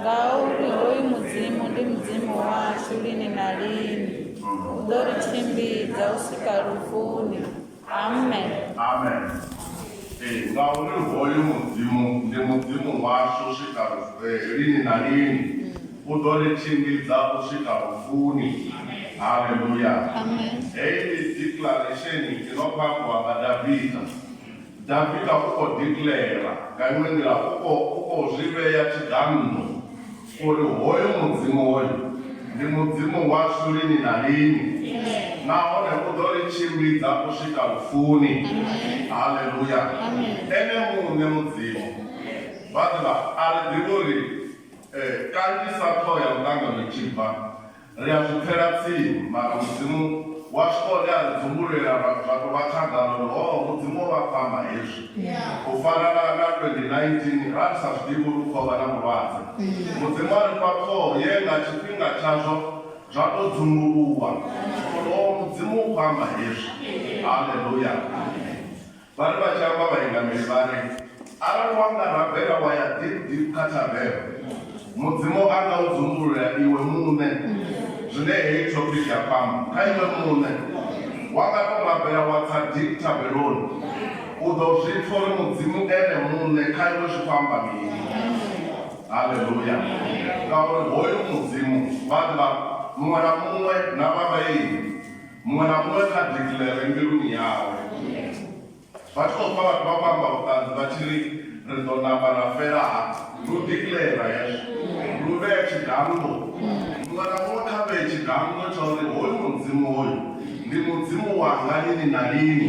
ngauri hoyu mudzimu ndi mudzimu washu lini na lini u ḓo ri tshimbidza u swika lufuni amen amen ee ngauri hoyu mudzimu ndi mudzimu washu u swika eh, lini na lini u ḓo ri tshimbidza u swika lufuni haleluya heyi ndi declaration inokhwakuwa nga davida Davida u khou dikiḽeira nga iṅwe nḓila, u khou zwi vhea tshiganḓo uri hoyu Mudzimu hoyu ndi Mudzimu washu lini na lini nahone u ḓo ri tshimbidza u swika lufuni. Haleluya! Ene muṋe Mudzimu. Vhaḓivha, a ri ḓivhi uri kanzhisa ṱhoho ya muṱangano i tshi bva, Ri a zwi pfela tsimu, mara Mudzimu washu one a ri dzumbulela ra zwa tou vha khagala uri, Hoo, Mudzimu o vha pfama hezwi! U fana na, na 2019, ra ri sa zwi ḓivhi uri hu khou vha na vhulwadze. Mudzimu a ri fha ṱhoho ye nga tshifhinga tshazwo zwa tou dzumbuluwa uri, Hoo, Mudzimu u khou amba hezwi! Haleluya! Vha ri vha tshi amba vha inga mishwari, Arali wa nga rabela wa ya ḓip-ḓip kha thavene, Mudzimu a nga u dzumbulula iwe muṋe. Zwine heyi thopiki ya khou amba kha iwe muṋe, wa nga tou rabela wa tsa dip thabeloni, u ḓo zwi pfa uri Mudzimu Ene muṋe kha iwe zwi khou amba mini. Haleluya! Ngauri hoyu Mudzimu vha ḓivha muṅwe na muṅwe na vhavhaingi. Muṅwe na muṅwe kha declare mbiluni yawe. Vha tshi khou pfa vhathu vha khou amba vhuṱanzi vha tshi ri, Ri ḓo namba ra fela hafha. Ndi u declare hezwo. Ndi u vhea tshidanngo. Muṅwe na muṅwe kha vhee tshidanngo tsha uri hoyu Mudzimu hoyu ndi Mudzimu wanga lini na lini.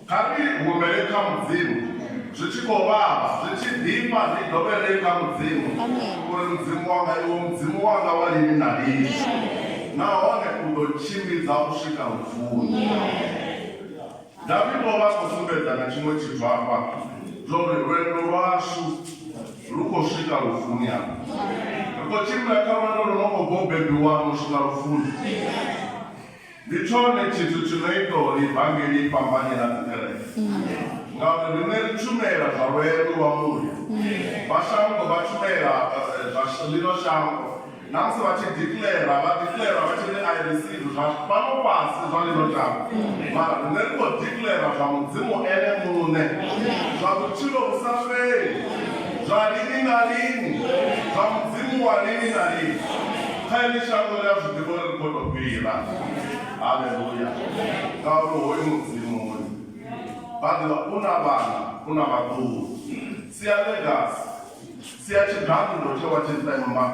Kha ri humbele kha Mudzimu zwi tshi khou vhavha, zwi tshi ḓifha, ri dovhelele kha Mudzimu uri, Mudzimu wanga, Iwe Mudzimu wanga wa lini na lini, nahone u ḓo tshimbidza u swika lufuni. David o vha a khou sumbedza na tshiṅwe tshithu hafha, zwa uri lwendo lwashu lu khou swika lufuni. Hafha ri khou tshimbila kha lwendo lu no khou bva u bebiwanu u swika lufuni. Ndi tshone tshithu tshi no ita uri ivangeli i fhambane na dzikereke, ngauri riṋe ri tshumela zwa lwendo lwa muya. Vha shango vha tshumela zwa ḽino shango. Na musi vha tshi dikiḽera, vha dikiḽera vha tshi ri, I receive zwa fhano fhasi zwa ḽino shango, mara riṋe ri khou dikiḽera zwa Mudzimu Ene Muṋe, zwa vhutshilo vhu sa fheli, zwa lini na lini, zwa Mudzimu wa lini na lini. Kha ḽi shango ḽi a zwi ḓivha uri ri khou tou fhira. Haleluya! Ngauri hoyu Mudzimu hoyu vha ḓivha u na vhana, u na vhaḓuhulu. Sia ḽegasi, sia tshiganḓo tshe wa tshi ṱemba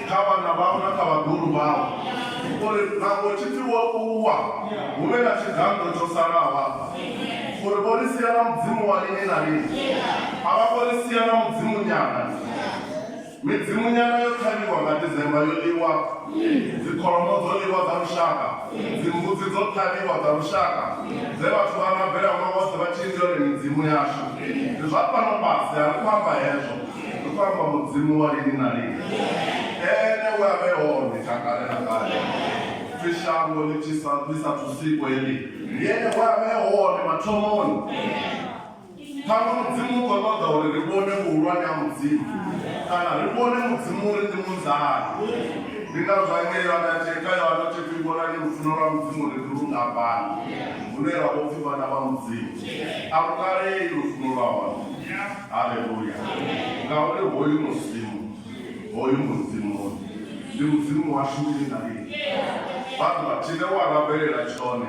kha vhana vhau na kha vhaḓuhulu vhau uri nangwe tshi pfi wo ṱuwa hu vhe na tshiganḓo tsho salaho afha uri vho ri sia na Mudzimu wa lini na lini. A vha ngo ri sia na Mudzimu nyana. Midzimunyana yo ṱhavhiwa nga December yo ḽiwa, dzikholomo dzo ḽiwa dza lushaka, dzimbudzi dzo ṱhavhiwa dza lushaka dze vhathu vha rabela ṅwaha woṱhe vha tshi ndi yone midzimu yashu. Ndi zwa fhano fhasi, a ri khou amba hezwo, ri khou amba Mudzimu wa lini na lini, Ene we a vhe hone tsha kale na kale, pfi shango ḽi sa thu sikwe ḽi. Ndi Ene we a vhe hone mathomoni. Ṱhaṅwe Mudzimu u ḓo ṱoḓa uri ri vhone vhuhulwane ha Mudzimu kana ri vhone Mudzimu uri ndi munzani. Ndi ngazwo hangei Yohane a tshi kha Yohane u tshi pfi, Vhonani lufuno lwa Mudzimu uri ndi lungafhani, hune ra vho pfi vhana vha Mudzimu. A lu kalei lufuno lwa hone. Haleluya! Ngauri hoyu Musimu, hoyu Mudzimu hoyu, ndi Mudzimu washu lini na lini. Vha ḓo vha tshi ḽe wa lavhelela tshone.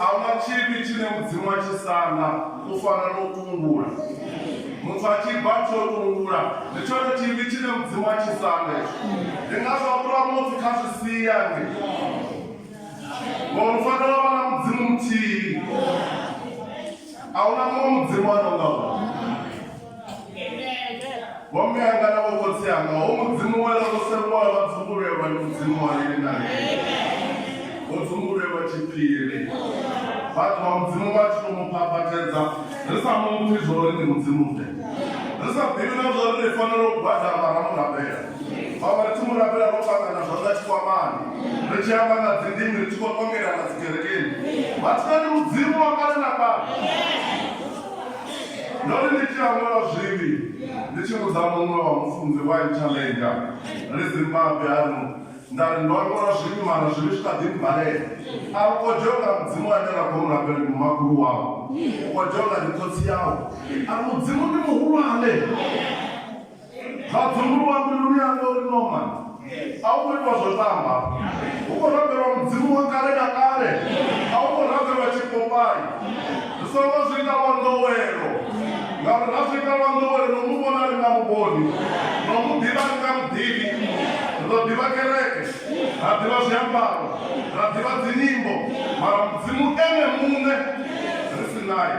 A hu na tshivhi tshine Mudzimu a tshi sanda u fana na u tungula. Muthu a tshi bva tshi o tungula, ndi tshone tshivhi tshine Mudzimu a tshi sanda hetsho. Ndi ngazwo a fhura muthu kha zwi sia nge. Ngori u fanela u vha na Mudzimu muthihi. A hu na muṅwe Mudzimu a no nga uyu. vho mme anga na vho khotsi anga ho mudzimu we ḽa ḓo sengwa vha dzumbulelwa ndi mudzimu wa lini na lini vho dzumbulelwa tshiphiri vhathu vha mudzimu vha tshi to mu phaphatedza ri sa mu pfi zwo ri ndi mudzimu ḓe ri sa ḓivhi na zwo ri ri fanela u gwadama ra mu rabela vhaṅwe ri tshi mu rabela ro fhaṱa na zwanḓa tshikwamani ri tshi amba nga dzindimi ri tshi khou ṱongela na dzikerekeni vhathu na ndi mudzimu wa kale na kale Ndo ri ndi tshi awela zwivhi ndi tshi vhudza muṅwe wa mufunzi wa Interlander ri Zimbabwe a ri, Nda ri ndo awela zwivhi mara zwivhi zwi kha ḓi mmbalela. A u kodzhiwe nga Mudzimu ane ra khou mu rabela ndi mumakhulu wau, u kodzhiwe nga ndi khotsi yau. A ri, Mudzimu ndi muhulwane. zwa dzunguluwa mbiluni yanga uri norman a u khou itwa zwo tamba u khou rabelwa mudzimu wa kale na kale a u khou rabelwa tshipopai ri songo zwi ita lwa nḓowelo ngauri ra zwi ita lwa nḓowelo no mu vhona ri nga muvhoni no mu ḓivha ri nga muḓivi ri ḓo ḓivha kereke ra ḓivha zwiambaro ra ḓivha dzinyimbo mara mudzimu ene muṋe ri si naye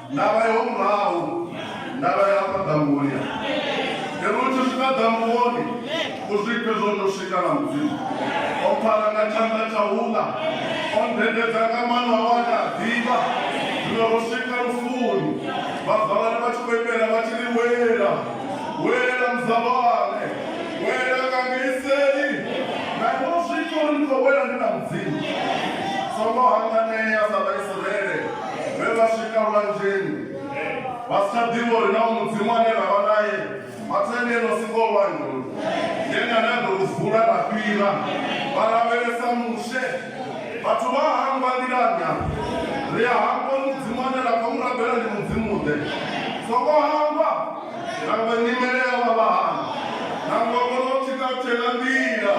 Ndavha yo murahu, ndavha ya hafha ḓambuni. Ngeno u tshi swika ḓambuni, u zwifhe zwo no swika na Mudzimu. O mpfara nga tshanḓa tsha uḽa, o ndendedza nga maṋo awe ane a ḓivha. Zwino ro swika lufuni, vhazalwane vha tshi khou imbela vha tshi ri, Wela, wela muzalwane, wela nga ngei seli. Na iwe u zwifhe uri ndi khou wela ndi na Mudzimu. Songo hanganea sa Vhaisraele. vhe vha swika lwanzheni vha si tsha ḓivha uri na mudzimu ane ra vha naye vhathu ene eno siko lwanzhe ulu yene ane a ḓo lu vula ra fhira vha lavhelesa mushe vhathu vha hangwa nḓilani afho ri a hangwa uri mudzimu ane ra khou mu rabela ndi mudzimu ḓe songo hangwa nangwe nyimele ya vha vhahana nangwe vhono tshika tshela nḓila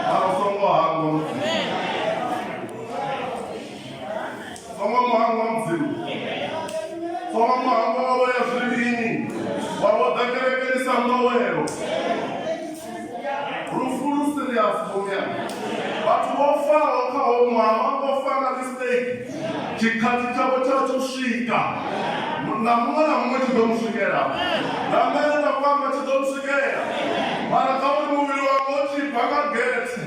mara songo hangwa mudzimu Foma muhango wa mudzimu foma muhango wavho ya zwivhini wavho ḓa kerekeni sa nḓowelo lufu lu serious vhomya vhathu vho faho kha ho ṅwaha vha vho fa nga mistake tshikhathi tshavho tsha tsho swika na muṅwe na muṅwe tshi ḓo mu swikela na mene nda kwamba tshi ḓo mu swikela mara kha uri muvhili wanga u tshi bva nga gethe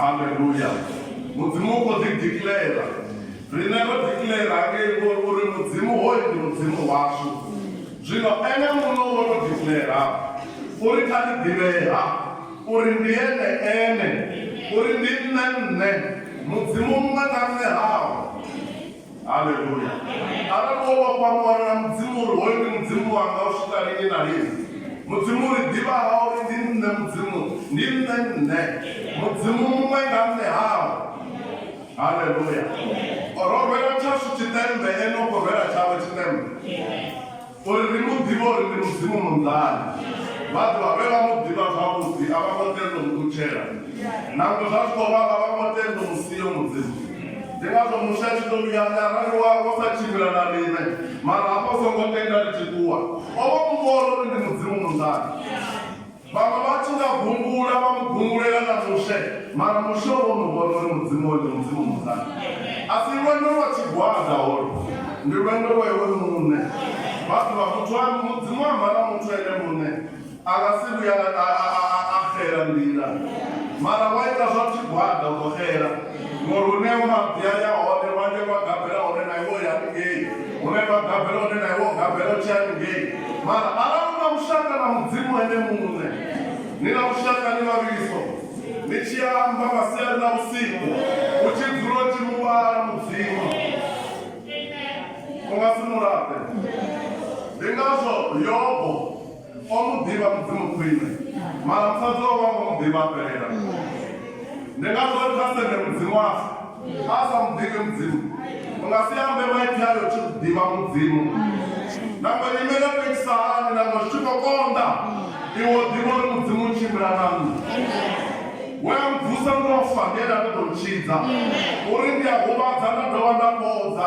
haleluya mudzimu u khou ḓi dikilela riṋe ro dikilela ngei ngori uri mudzimu hoyu ndi mudzimu washu zwino ene muno wo to dikilela uri kha ri ḓivhea Uri ndi Ene Ene, uri ndi Nṋe Nṋe, Mudzimu muṅwe na Nṋe haho. Haleluya! Arali wo vhofha muano na Mudzimu uri hoyu ndi Mudzimu wanga u swika lini na lini, Mudzimu u ri ḓivha ha uri ndi Nṋe Mudzimu, ndi Nṋe Nṋe, Mudzimu muṅwe na Nṋe haho. Haleluya! Ro rwela tshashu tshiṱemmbe, Ene u khou rwela tshawe tshiṱemmbe. Uri ri mu ḓivhe uri ndi Mudzimu munḓani, vha ḓo vha vhe vha mu ḓivha zwavhuḓi, a vha ngo tenda u mu ṱutshela. Nangwe zwa tshi khou vha, vha vha ngo tenda u mu sia u Mudzimu. Ndi ngazwo Mushe a tshi ḓo vhuya a ri, Arali wa, wa sa tshimbila na riṋe, mara hafha u songo tenda ri tshi ṱuwa, o vha o mu vhona uri ndi Mudzimu munḓani. Vhaṅwe vha tshi nga gungula vha mu gungulela na Mushe, mara Mushe o vha o no vhona uri Mudzimu wawe ndi Mudzimu muṱanu. A si lwendo lwa tshigwada holu, ndi lwendo lwa iwe muṋe. Vha ḓivha, muthu a, Mudzimu a amba na muthu ene muṋe, a nga si vhuye a, a, a, a, a xela nḓila. Mara wa ita zwa tshigwada u ḓo xela. ngori hune mabvi a ya hone lwande lwa gabela hone na iwe ya ngei hune lwa gabela hone na iwe gabela tshi ya ngei mara arali una vhushaka na mudzimu ene muṋe ni na vhushaka ni vhavhiliso ni tshi amba masiari na vhusiku u tshi dzula u tshi muvhala mudzimu u nga si mulape ndi ngazwo yobo O mu ḓivha Mudzimu khwine, mara musadzi wawe ha ngo mu ḓivha a fhelela. Ndi ngazwo ri kha sende Mudzimu washu a sa mu ḓivhi Mudzimu. U nga si ambe maipfi ayo u tshi ḓivha Mudzimu. Nangwe nyimele yo tou itisa hani, nangwe zwi tshi khou konḓa, iwe u ḓivha uri Mudzimu u tshimbila na nṋe. We a mvusa ndo fa, ndi ene a ḓo tou ntshidza, uri ndi a huvhadza nda dovha nda fhodza.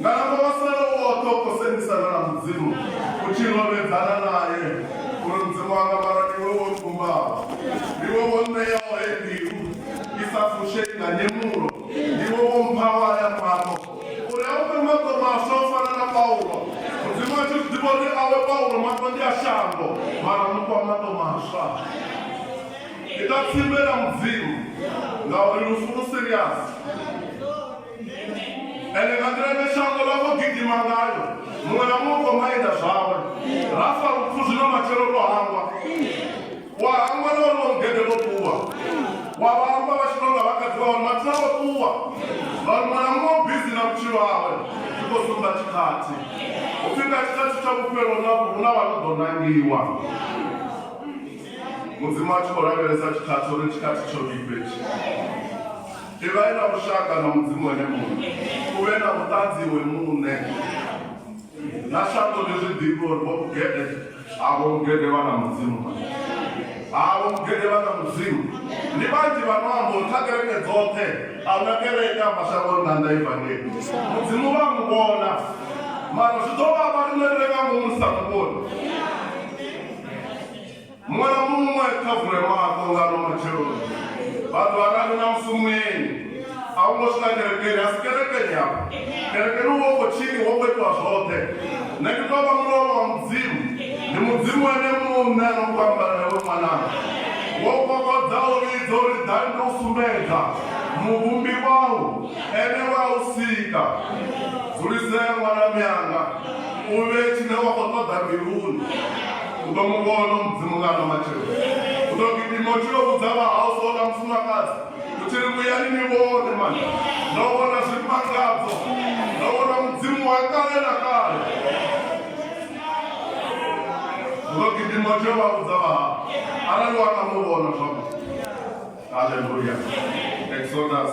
Nga amba maswelo oṱhe o kosendiselwa na Mudzimu, u tshi lovhedzana nae uri, Mudzimu wanga, mara ndi iwe wo nkumbaho, ndi iwe wo nṋeaho heyi mbilu i sa fushei nga nyemulo, ndi iwe wo mphaho haya maṱo uri a u fhe maṱo maswa u fana na Paulo. Mudzimu a tshi zwi ḓivha uri awe Paulo maṱo ndi a shango, mara mu fha maṱo maswa. Ita tsimbe na Mudzimu, ngauri lufu lu siriasi. ende nga nḓila ine shango ḽa khou gidima ngayo muṅwe na muṅwe khou maenda zwawe ra fa lupfu zwino matshelo lwo hangwa wa hangwa na uri wa mugede vho ṱuwa wa vha hangwa vha tshino nga vhakadzi vha uri mathina vho ṱuwa vhauri muṅwe na muṅwe bizi na vhutshilo hawe zwi khou sumba tshikhathi upfi nga tshikhathi tsha vhufhelo na hu na vha no ḓo nangiwa mudzimu a tshi khou lavhelesa tshikhathi uri tshikhathi tsho vhifhetshi Ivhai na vhushaka na Mudzimu ene muṋe. U vhe na vhuṱanzi iwe muṋe. Na shango ḽi zwi ḓivhe uri vho Mugede a vho Mugede vha na Mudzimu. A vho Mugede vha na Mudzimu. Ndi vhanzhi vha no amba uri kha kereke dzoṱhe a huna kereke ya mashangoni na nnḓa Ivangeli. Mudzimu vha a mu vhona. Mara zwi ḓo vhavha riṋe ri re nga ngomu ri sa mu vhoni. Muṅwe na muṅwe kha vule maṱo nga no matsheloni. Vhathu vha rali na musumeni. A hu ngo swika kerekeni, a si kerekeni afha. Kerekeni u vha u khou tshiniwa, u khou itiwa zwoṱhe. Nṋe ndi tou vha mulolo wa Mudzimu. Ndi Mudzimu ene muṋe a no khou amba na iwe ṅwananga. Wo kokodza u vhidza uri ḓa ndi u sumbedza Muvhumbi wau, Ene we a u sika. Dzulisea ṅwana mianga, u vhee tshine wa khou ṱoḓa mbiluni. u ḓo mu vhona mudzimu nga ano matshelo u ḓo ri timoti yo vhudza vhahausi ola mufumakadzi u tshi ri vhuyani ni vhone mani ndo vhona zwimangadzo ndo vhona mudzimu wa kale na kale u ḓo ri timoti yo vha vhudza vhahau arali wa nga mu vhona zwavhuḓi haleluya exodus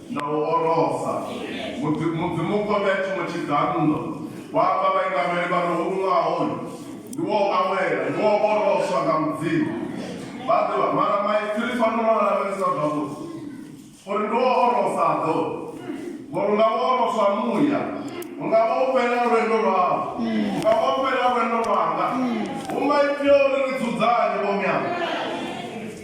na u orosa Mudzi- mudzimu kovhea tshiṅwe tshiganḓo wa amba vhaingameli vha re homu ṅwaha hoyu ndi wo awela ndi wo oroswa nga mudzimu vha ḓivha mara maipfiri fanela u lavhelesa zwavhuḓi uri ndi wo orosa ḓo ngori unga wo oroswa muya unga wo fhela lwendo lwau unga wo fhela lwendo lwanga hu maipfi a uri ri dzudzanye vhomyanga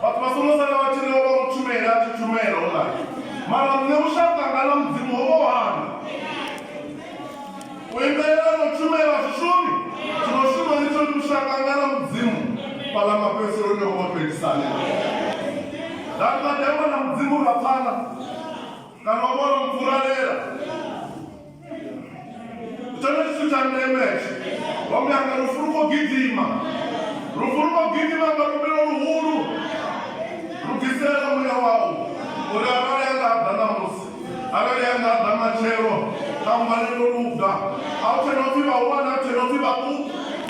Vhathu vha songo sala vha tshi ri o vha u tshumela a tshi tshumela u ḽa. Mara nṋe vhushaka nga na Mudzimu ho vha hanga. U imelela no tshumela zwishumi zwino shuma ni tsho ndi vhushaka nga na Mudzimu fhaḽa mafhedziseloni ho vha fhelisani. Nda ri nda ḓi amba na Mudzimu ra pfana kana o vha o no mpfuralela. tshenetsithu tsha ndemeetsho ombe anga lufu lu khou gidima lufu lu khou gidima nga luvhilo luhulu lugisela muya wau uri arali anga ḓa ṋamusi arali anga ḓa matshelo kha mbalelo luga a u tshena upfhi vhahulwane a u tshena upfhi vhaṱuku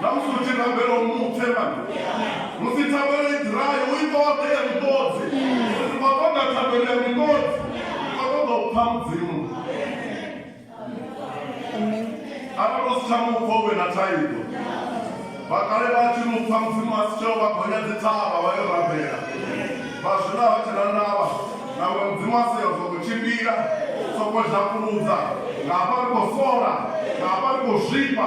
Namusi hu tshi rambelwa mupfe mani musi thabelo i ḓirayo u i ṱoḓe ya muṱodzi ri si khou ṱoḓa thabelo ya muṱodzi ri khou ṱoḓa u pfa mudzimu arali u si tsha mupfa u vhe na thaidzo vhakale vha tshi mupfa mudzimu a si tsheo vha gonya dzithavha vha yo rambela vha zwino a vha tshena ndavha na uri mudzimu a seyo soko tshimbila soko zhakuludza nga hafha ri khou sola nga hafha ri khou zwifha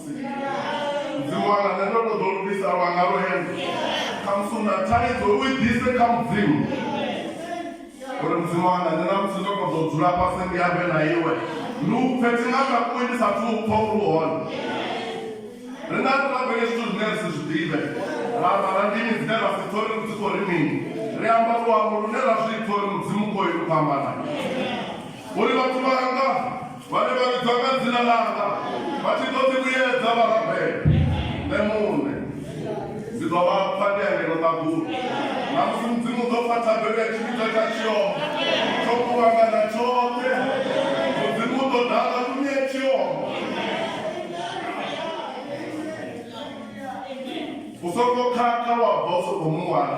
mudzimu wanga nṋe ndo to ḓo lugisa lwa nga lwo hende khamusi u na thaidzo u i ḓise kha mudzimu uri mudzimu wanga nṋe na musi ndo to ḓo dzula fhasi ndi ambe na iwe ndi u pfe thi nga takuwe ndi sathu u pfa uri hone ri nga si rabele zwithu zwine ri si zwi ḓivhe ra amba na ndimi dzine ra si pfe uri dzi khou ri mini ri amba luambo lune ra zwi pfe uri mudzimu khoyu u fhambana uri vhathu vhanga vhane vha vhidzwa nga dzina langa vha tshi ḓo ḓivhuyedza vha rabela nṋe muṋe ndi ḓo vha pfa ndi angeno ṱaḓulu na musi mudzimu ḓo pfa thabelo ya tshivhidzo tsha tshioma tsho kuvhangana tshoṱhe mudzimu u ḓo dala tumi ya tshioma u songo khakha wa bva u songo muwana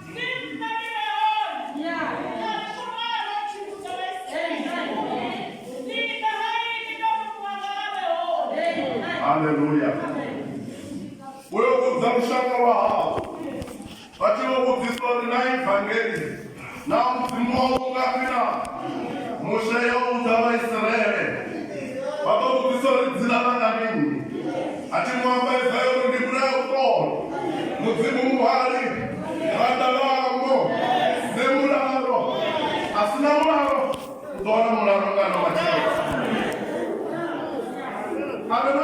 Hallelujah. Wewe kudza lushaka lwa hao vati wo vhudzisa uri na evhangeli na mudzimu wau ungafhina mushe yo udza vaisraele vha ḓo vhudzisa uri dzina langa mini A thi ngo amba ifa yone ndi vhulaya u ṱola. Mudzimu muhali, vhaḓa vhaambo, ne mulalo. A si na mulalo, u ḓo wana mulalo nga no matshelo. A re na